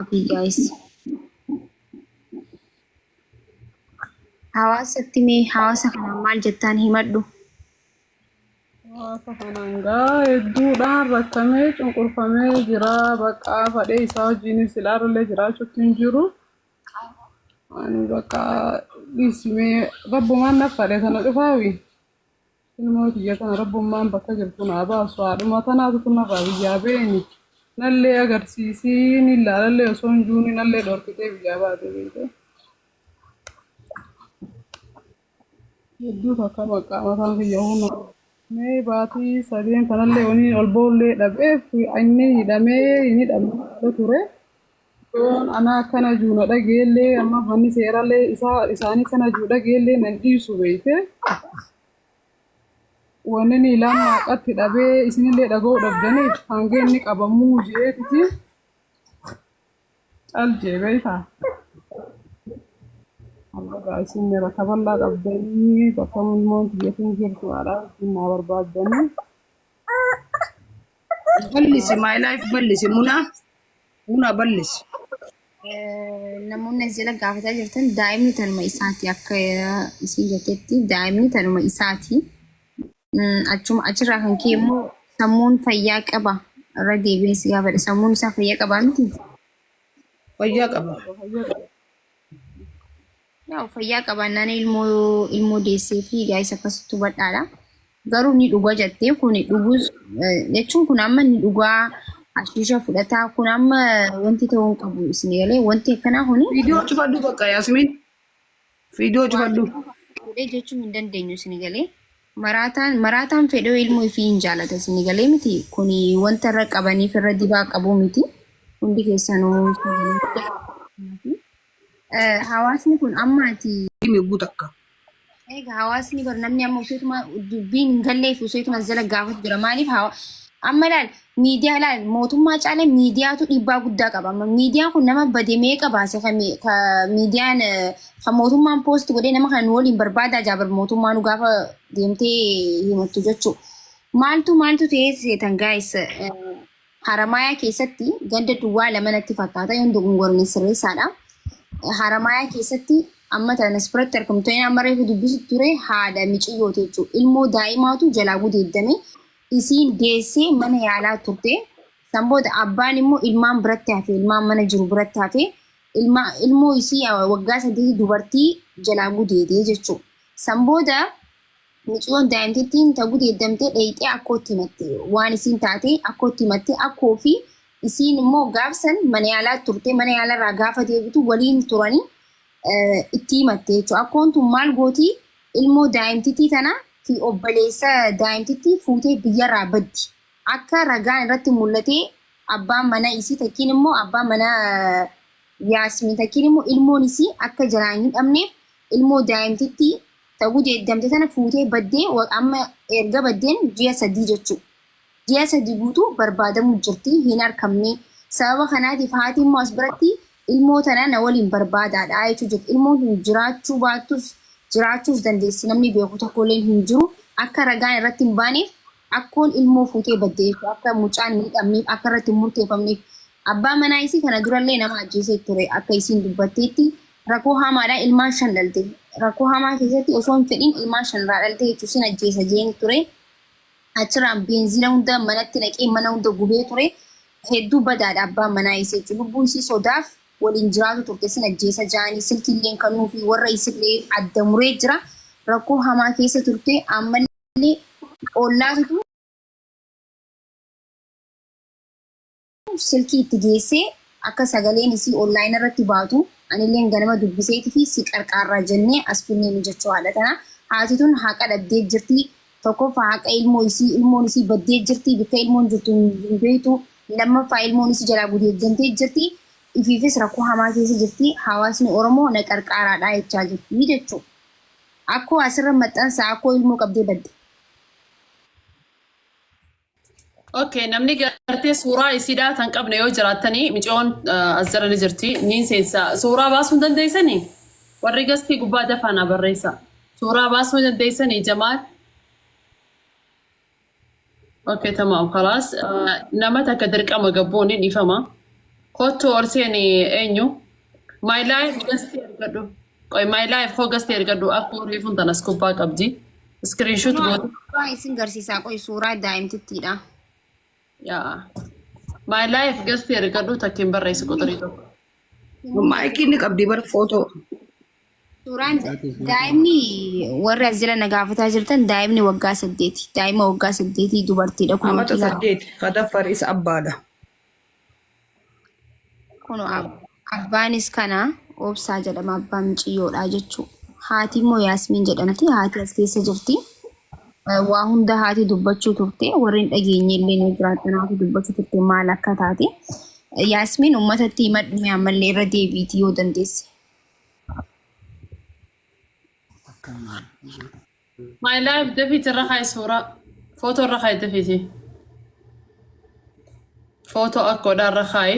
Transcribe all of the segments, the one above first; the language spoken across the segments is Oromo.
Copy guys. Hawaasatti mee hawaasa kanaan maal jettaan himadhu. Hawaasa kanaan gaa hedduudhaan rakkamee cunqurfamee jira. Bakka fadhee isaa wajjinis ilaalulee jiraachuutti hin jiru. Ani bakka dhiisimee rabbumaan na fadhe kana dhufaawi. Ilmoo tiyya tana rabbummaan bakka jirtu naa baasu haadhuma tanaatu tun narraa biyyaa beeni nallee agarsiisii ni laalallee osoo hin juuni nallee dhorkitee biyyaa baate beekee. Hedduu takka maqaa mataan kiyya huna. Mee baatii sadeen tanallee waniin ol ba'ullee dhabeef inni hidhamee hin hidhamne ture. Yoon ana akkana juu na dhageellee amma manni seerallee isaa isaanii kana juu dhageellee na dhiisu beeyte wanni ni laan maaqatti dhabee isinillee dhaga'uu dhabdanii hangee inni qabamuu jeetiti cal jee beeyta. Allagaa isin rakaballaa qabdanii bakka mulmoon biyyatiin jirtu haadhaa ittiin naa barbaaddanii. Ballisi my life ballisi munaa. Una ballis. Namoonni as jala gaafataa jirtan daa'imni tanuma isaati akka isin jettetti daa'imni tanuma isaati. Achuma achirraa kan ka'e immoo sammuun fayyaa qaba irra deebiin si gaafadha sammuun isaa fayyaa qabaa miti. Fayyaa qaba. Yaa'u fayyaa qabaannaan ilmoo ilmoo deessee fi gaa'is akkasitti hubadhaadha. Garuu ni dhuga jettee kun dhugus eh, jechuun kun amma ni dhugaa ashiisha fudhataa kun amma wanti ta'uu hin qabu isin galee wanti akkanaa kuni Viidiyoo cufadhu bakka Yaasimiin. Viidiyoo cufadhu. godhee jechuu hin dandeenyu isin galee maraataan maraataan fedhoo ilmoo ifii hin jaalata isin galee miti kun wanta irra qabaniif irra dibaa qabu miti hundi keessanuu isin galee. Hawaasni kun amma ati. Migguu takka. Egaa hawaasni bar namni amma useetuma dubbiin hin galleef useetuma jala gaafatu jira. Maaliif hawa amma laal miidiyaa laal mootummaa caalee miidiyaatu dhiibbaa guddaa qaba. Amma miidiyaan kun nama bade meeqa baase kan mi- ka miidiyaan eh, kan mootummaan poost godhee nama kan waliin barbaadaa jaabar mootummaa nu gaafa deemtee himattu jechuu. Maaltu maaltu ta'ee seetan gaayis Haramaayaa keessatti ganda duwwaa lama natti fakkaata yoon dogongorne sirreessaadha. Haramaayaa keessatti amma tanas biratti argamtoonni amma reefu dubbisu ture haadha miciyyooti jechuudha. Ilmoo daa'imaatu jalaa gudeeddame isiin deessee mana yaalaa turte. San booda abbaan immoo ilmaan biratti hafe ilmaan mana jiru biratti hafe ilma ilmoo isii waggaa saddeetii dubartii jalaa gudeedee jechuudha. San booda Miciyoon daa'imtittiin ta gudeeddamte dheeyxee akkootti himatte. Waan isiin taate akkootti himatte. Akkoo fi isiin immoo gaaf san mana yaalaa turte. Mana yaalarraa gaafa deebitu waliin turanii itti himatte jechuudha. Akkoon tun maal gooti ilmoo daa'imtittii tana fi obboleessa daa'imtittii fuutee biyyarraa baddi. Akka ragaan irratti mul'atee abbaan mana isii takkiin immoo abbaan mana Yaasmiin takkiin immoo ilmoon isii akka jalaan hin dhabneef ilmoo daa'imtittii ta gudeeddamte tana fuutee baddee amma erga baddeen ji'a sadii jechuu ji'a sadii guutuu barbaadamuu jirti hin arkamnee sababa kanaatiif haati immoo as biratti ilmoo tana na waliin barbaadaadha jechuu jirti ilmoon tun jiraachuu baattus jiraachuus dandeessi namni beeku tokkolleen hin jiru akka ragaan irratti hin baaneef Akkoon ilmoo fuutee baddeef akka mucaan hin hidhamneef akka irratti hin murteefamneef abbaan manaa isii kana durallee nama ajjeesee ture akka isiin dubbatteetti rakoo haamaadhaan ilmaan shan dhalte rakoo hamaa keessatti osoo hin fedhiin ilmaan shan irraa dhalte jechuun sin ajjeesa jeeni ture achirraan beenziina hunda manatti naqee mana hunda gubee ture hedduu badaadha abbaan manaa isii jechuun lubbuu isii sodaaf waliin jiraatu turte sin ajjeesa jaanii silkiilleen kannuu fi warra isillee adda muree jira rakoo hamaa keessa turte ammallee Inni ollaatitu silkii itti geessee akka sagaleen isii online irratti baatu anilleen ganama dubbiseetifi si qarqaarraa jennee as finnee mijachoo haadha tana. Haati tun haqa dhabdee jirti. Tokkoffaa haqa ilmoo isii ilmoon isii baddee jirti bikka ilmoon jirtu hin beektu. Lammaffaa ilmoon isii jalaa gudeeddamtee jirti. Ifiifis rakkoo hamaa keessa jirti. Hawaasni Oromoo na qarqaaraadhaa jechaa jirti jechuu. Akkoo asirra maxxansa akkoo ilmoo qabdee badde. Okay, namni gartee suuraa isiidhaa tan qabne yoo jiraattanii micoon ah, as jala ni jirti niin seensa. Suuraa baasuu hin dandeessanii? Warri gastii gubbaa dafaa naa barreessa. Suuraa baasuu hin dandeessanii jamaal? Okay, tamam, khalaas. Ah, Nama takka dirqama gabbuun hin ifama. Kottu ol seeni eenyu? My life gasti ergadhu. Qoy my life hoo gasti ergadhu akka reefun tanas kubbaa qabdi. Screenshot Kunoo goote. suuraa isin garsiisaa qoy suuraa daa'imtittiidha. Yaa. My life gasti ergadhu takkin barreessi quxurii tokko. Maayikii ni qabdi bar footoo. Suuraan daa'imni warri as jira na gaafataa jirtan daa'imni waggaa saddeeti. Daa'ima waggaa saddeetii dubartiidha. Kun Amata wakiila saddeeti. Sadaffar isa abbaadha. kun ab- abbaanis kana obsaa jedhama abbaa miciyyoodha jechuu. Haati immoo Yaasmiin jedhamti. Haati as keessa jirti. Eh, Waa hunda haati dubbachuu turte. Warri hin dhageenye illee ni jiraatan haati dubbachuu turte maal akka taate. Eh, Yaasmiin uummatatti himadhu ammallee irra deebiiti yoo dandeesse. My life David irra kaa'i suuraa. Footoo irra kaa'i David. Footoo akkoodhaa irra kaa'i.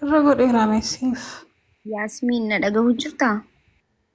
Irra godheera meessiif. Yaasmiin na dhagahu jirtaa?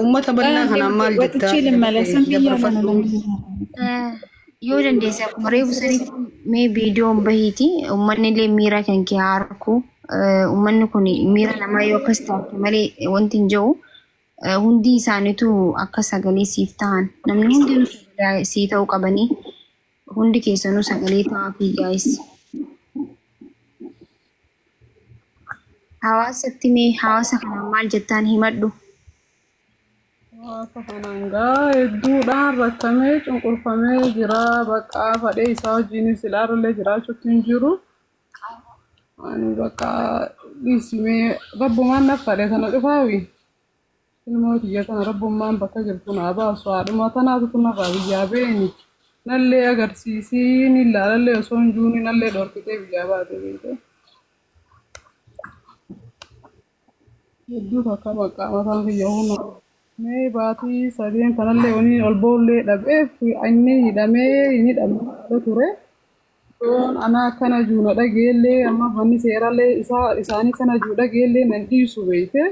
Uummata bal'aa kanaan maal jettaa? Watichii limmala san biyyaa kana Dabarfadhu. lammiidhaan. Yoo dandeesse akkuma reefu sanitti mee viidiyoon bahiiti uummanni illee miira kan kee haa arku. Uummanni kun miira namaa yoo akkas taate malee wanti hin jiru. Hundi isaaniitu akka sagalee siif ta'an namni hundi sagalee sii ta'uu qabanii hundi keessanuu sagalee ta'aa fi gaa'is. Hawaasatti mee hawaasa kanaan maal jettaan himadhu? Hawaasa kanaan gaa hedduudhaan rakkamee cunqurfamee jira. Bakka fadhee isaa wajjin silaarullee jiraachuutti hin jiru. Ani bakka dhiisimee rabbumaan na fadhe kana dhufaawi. Ilmoo tiyya tana rabbummaan bakka jirtu naa baasu haadhuma tanaatu tunarraa biyyaa beeni nallee agarsiisii ni laalallee osoo hin juuni nallee dhorkitee biyyaa baate beekee hedduu takka baqqaa mataan kiyya huna mee baatii sadeen tanallee waniin ol boollee dhabeef inni hidhamee hin hidhamne ture. Yoon ana akkana juu na dhageellee amma manni seerallee isaa isaanii kana juu dhageellee na dhiisu beeyte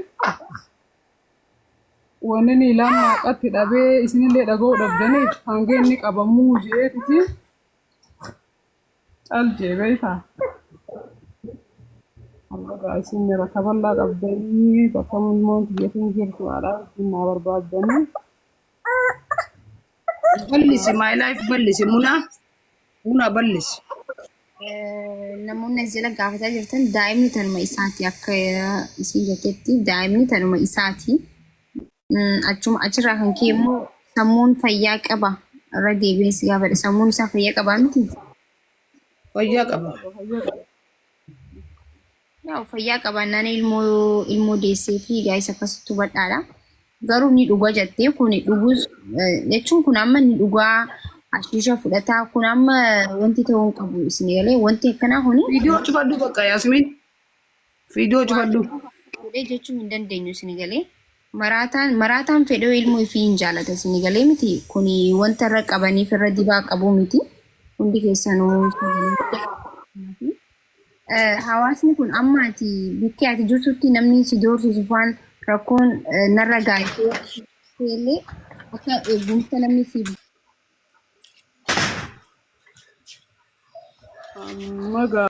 wanni ni laan maaqatti dhabee isinillee dhaga'uu dhabdanii hangee inni qabamuu jeetiti cal jee beeyta. Allagaa isin rakka bal'aa qabdanii bakka mulmoon biyyatiin jirtu haadhaa isin naa barbaaddanii. Ballisi my life ballisi muna muna ballisi. Eh, Namoonni as jala gaafataa jirtan daa'imni tanuma isaati akka eh, isin jettetti daa'imni tanuma isaati. Mm, Achuma achirraa kan ka'e immoo sammuun fayyaa qaba. Irra deebiin si gaafadha. Sammuun isaa fayyaa qabaa miti? Fayyaa qaba. Yaa'u fayyaa qabaannaan ilmoo ilmoo deessee fi gaa'is akkasitti hubadhaadha. Garuu ni dhuga jettee kun dhugus eh, jechuun kun amma ni dhugaa ashiisha fudhataa kun amma wanti ta'uu hin qabu isin galee wanti akkanaa kuni Viidiyoo cufadhu bakka Yaasimiin. Viidiyoo cufadhu. godhee jechuu hin dandeenyu isin galee maraataan maraataan fedhoo ilmoo ifii hin jaalata isin galee miti kun wanta irra qabaniif irra dibaa qabu miti hundi keessanuu isin galee. Hawaasni kun amma ati bikkee ati jirtutti namni si doorsisu faan rakkoon narra gaayitee illee akka eegumsa namni si magaa.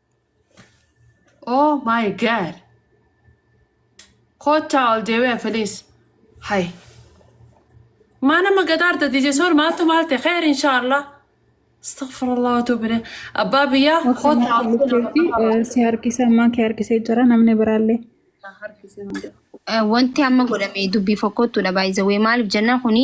Oh my god. Kottaa ol deebi'a please. Hay. Maa nama gadaarta dije sool maaltu maalte kheer inshaallah. Astaghfirullah wa tuubi ilayh. Abbaa biyyaa kottaa ol deebi'a. si harkisa ammaa kee harkisee jira namni biraallee. Eh, Wanti amma godhame dubbii fokkottuudha baay'isawee maaliif jennaan kuni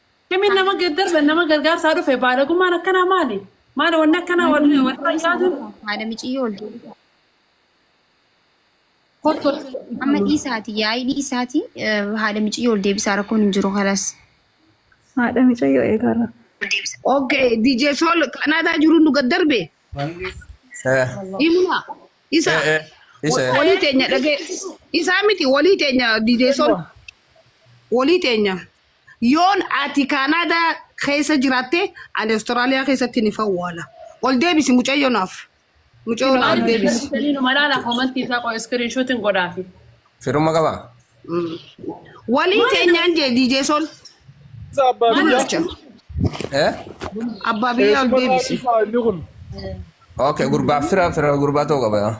Kamiin nama gaddarbe nama gargaarsaa dhufe baalagummaan akkanaa maali? Maali wanni akkanaa wal wal fakkaatuun Haadha miciyyoo ol deebisaa. kottu Amma dhiisaati yaa'ii dhiisaati eh, haadha miciyyoo ol deebisaa rakkoon hin jiru kalas. Haadha micayyoo eegaarra. Okay, DJ Sol Kanaadaa jiru nu gad darbe. Eh, Himuna. Isa. eh, eh, isa, eh. Walii teenya dhagee. Isaa miti walii teenya DJ Sol. Walii teenya. Yoon ati Canada keessa jiraatte ani Australia keessatti ni fawwaala. Ol deebisi mucayyoo naaf. Mucayyoo Kino naaf ol Maaliif deebisi. barreessanii nu malaala komantii isaa qo'e iskiriin shuutiin godhaafi. Firumma qaba. Mm. Walii Maali teenyaan jee DJ Sol Isa abbaa maali biyyaa. dullacha. Eh? Abbaa biyyaa ol Eessuma deebisi. isaa inni kun. Okay, gurbaa fira fira gurbaa ta'uu qaba.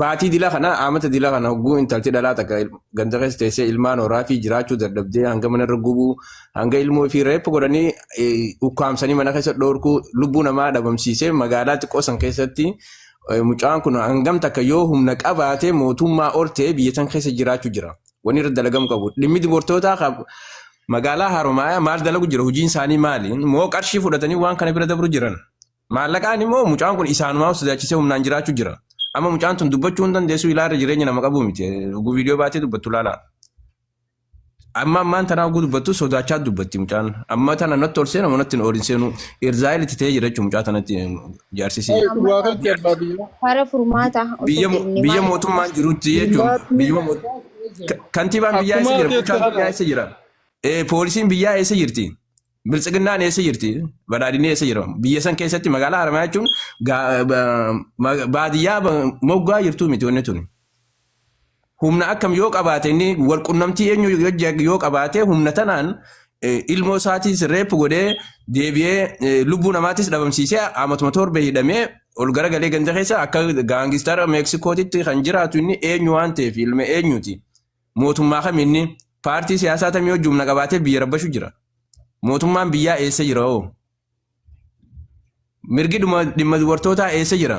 Baatii dila kana amata dila kana hogguu intalti dhalaa takka il- ganda keessa teessee ilmaan horaa fi jiraachuu dadhabdee hanga mana irra gubuu hanga ilmoo fi reeffa godhanii eh, ukkaamsanii mana keessa dhoorkuu lubbuu namaa dhabamsiisee magaalaa xiqqoo san keessatti eh, mucaan kun hangam takka yoo humna qabaatee mootummaa ol ta'ee biyya san keessa jiraachuu jira. Wanni irra dalagamu qabu dhimmi dubartootaa qab- magaalaa Haromaayaa maal dalagu jira hojiin isaanii maali moo qarshii fudhatanii waan kana bira dabru jiran. Maallaqaan immoo mucaan kun isaanumaaf sodaachisee humnaan jiraachuu jira. Amma mucaan tun dubbachuu hin dandeessu ilaala jireenya nama qabu miti. Oguu viidiyoo baatee dubbattu ilaala. Amma ammaan tanaa oguu dubbattu sodaachaa dubbatti mucaan. Amma tana natti ol seena manatti hin oolin seenu. Irzaayil itti ta'ee jira jechuun mucaa tanatti jaarsisee. Ee, dhugaa Amma galchi abbaa biyyaa. Kara furmaataa osoo Biyya mo- deemne biyya maal godha? mootummaan jirutti jechuun Furmaatni biyyuma mo- addaa ta'ee jira. ka- kantiibaan biyyaa eessa Akkumaa jira? keessa Bulchaan biyyaa haadha. eessa jira? Eh, Poolisiin biyyaa eessa jirti? Biltsiginnaan eessa jirti? Badhaadhinni eessa jira? Biyya san keessatti magaalaa Haramayaa jechuun gaa- ba- ma- baadiyyaa ba- moggaa jirtuu miti wanni tuni. Humna akkam yoo qabaate inni wal qunnamtii eenyu yoo jag- yoo qabaate humna tanaan eh, ilmoo isaatis reef godhee deebi'ee eh, lubbuu namaatis dhabamsiisee amatuma torbee hidhamee ol garagalee ganda keessa akka gaangistara Meeksikootitti kan jiraatu inni eenyu waan ta'eef ilma eenyuti. Mootummaa kami inni? Paartii siyaasaa tamii hojii humna qabaatee biyya rabbashu jira? Mootummaan biyyaa eessa jira hoo? Mirgi dhuma- dhimma dubartootaa eessa jira?